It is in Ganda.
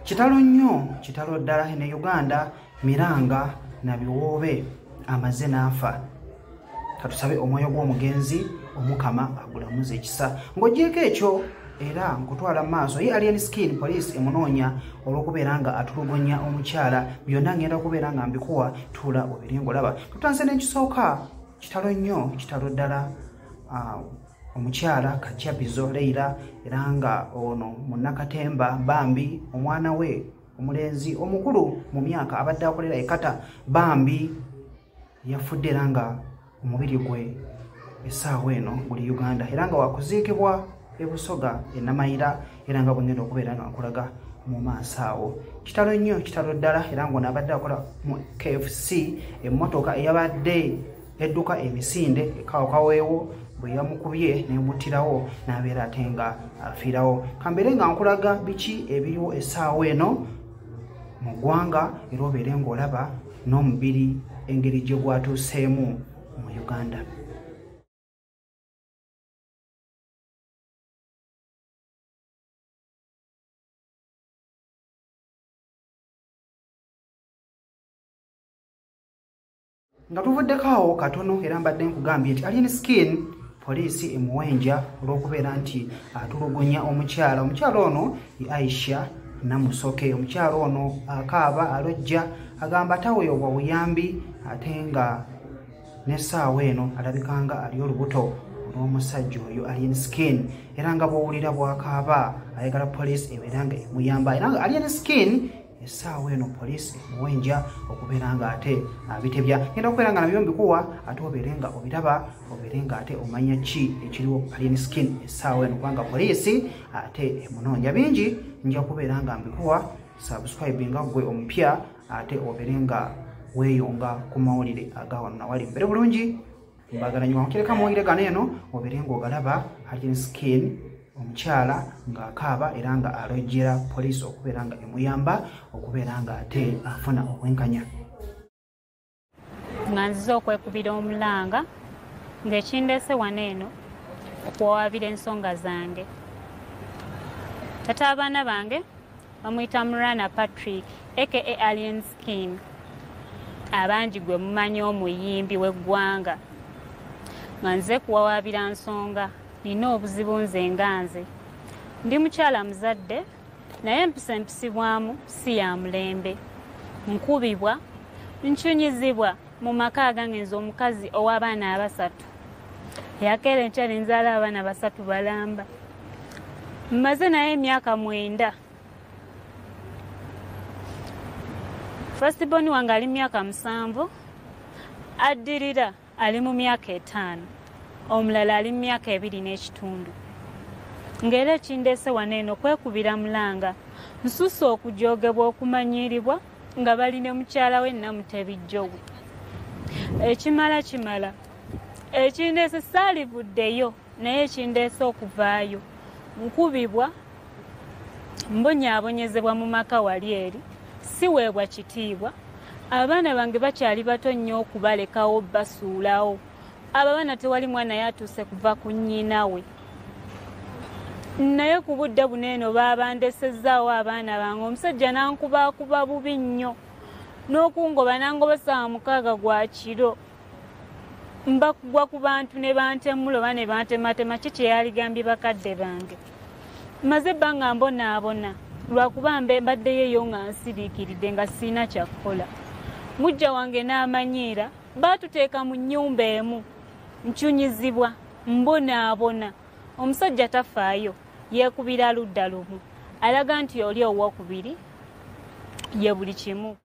kitalo nnyo kitalo ddala ne uganda miranga na biwoobe amaze n'afa katusabe omwoyo gw'omugenzi omukama agulamuza ekisa ng'ogyeko ekyo era nkutwala mu maaso ye alien skin police emunoonya olw'okubeera nga atulugunya omukyala byonna ngenda kubeera nga mbikuwa tuula obiri ngolaba tutanse n'ekisooka kitalo nnyo kitalo ddala omukyala kajabizo leira era nga ono munakatemba bambi omwana we omulenzi omukulu mu myaka abadde akolera ekata bambi yafudde era nga omubiri gwe esaawa eno guli uganda era nga wakuziikibwa ebusoga enamayira era nga bwengenda okubeera nga nkulaga mu maaso awo kitalo nnyo kitalo ddala era ngaono abadde akola mu kfc emmotoka eyabadde yadduka emisinde ekawokaweewo bwe yamukubye nemuttirawo n'abeera ate nga afiirawo kambeere nga nkulaga biki ebiriwo essaawa eno mu ggwanga era obeere ng'olaba n'omubiri engeri gye gwatuuseemu mu uganda nga tuvuddeko awo katono era mbadde nkugambye nti alien skin poliisi emuwenja olw'okubeera nti atulugunya omukyala omukyala ono ye aisha namusoke omukyala ono akaaba alojja agamba taweebwa buyambi ate nga n'essaawa eno alabika nga ali olubuto olw'omusajja oyo alien skin era nga bwowulira bwakaaba ayagala poliisi ebeera nga emuyamba era nga alien skin essaawa eno poliisi emuwenja okubeera nga ate abitebya ah, genda okubeera nga nabyo mbikuwa ate obeere nga obiraba obeere nga ate omanya ki ekiriwo alien skin essaawa eno kubanga poliisi ate emunoonya bingi nja kubeera nga mbikuwa subscribe nga gwe omupya ate obeere nga weeyonga ku mawulire agawano nawali mbere bulungi mbagala nyo wankireka mwoyire gano eno obere ng'ogalaba hajin skin omukyala ng'akaaba era nga alojjera poliisi okubeera nga emuyamba okubeera nga ate afuna obwenkanya nga nzize okwekubira omulanga ng'ekindeese wano eno okuwawaabira ensonga zange tata abaana bange bamuyita murana patrick aka alien skin abangi gwe mumanyi omuyimbi w'eggwanga nga nze kuwawaabira nsonga nina obuzibu nze nga nze ndi mukyala muzadde naye empisa empisibwamu si ya mulembe nkubibwa ncunyizibwa mu maka agange nze omukazi ow'abaana abasatu yakeera enkya ne nzaala abaana basatu balamba mmaze naye emyaka mwenda fastiboni wange ali mu myaka musanvu addirira ali mu myaka etaano omulala ali mu myaka ebiri n'ekitundu ng'era ekindeese wano eno kwekubira mulanga nsusa okujogebwa okumanyiiribwa nga bali ne mukyala we namutebi jowe ekimala kimala ekindeese saalivuddeyo naye ekindeese okuvaayo nkubibwa mbonyaabonyezebwa mu maka wali eri siweebwa kitiibwa abaana bange bakyali bato nnyo okubalekawo basuulawo abo abaana tewali mwana yatuuse kuva ku nnyina we naye ku budde buno eno baabandesezaawo abaana bange omusajja nankubaakuba bubi nnyo n'okungoba nangoba saawa mukaaga gwa kiro mbakugwa ku bantu ne bantemula oba ne bantematema ki kyeyaligambye bakadde bange maze ebbanga mbonaabona lwakuba mbe mbaddeyo eyo nga nsiriikiridde nga sirina kyakukola mujja wange n'amanyiira baatuteeka mu nnyumba emu ncunyizibwa mbonaabona omusajja tafaayo yeekubira ludda lumu alaga nti oli owokubiri ye buli kimu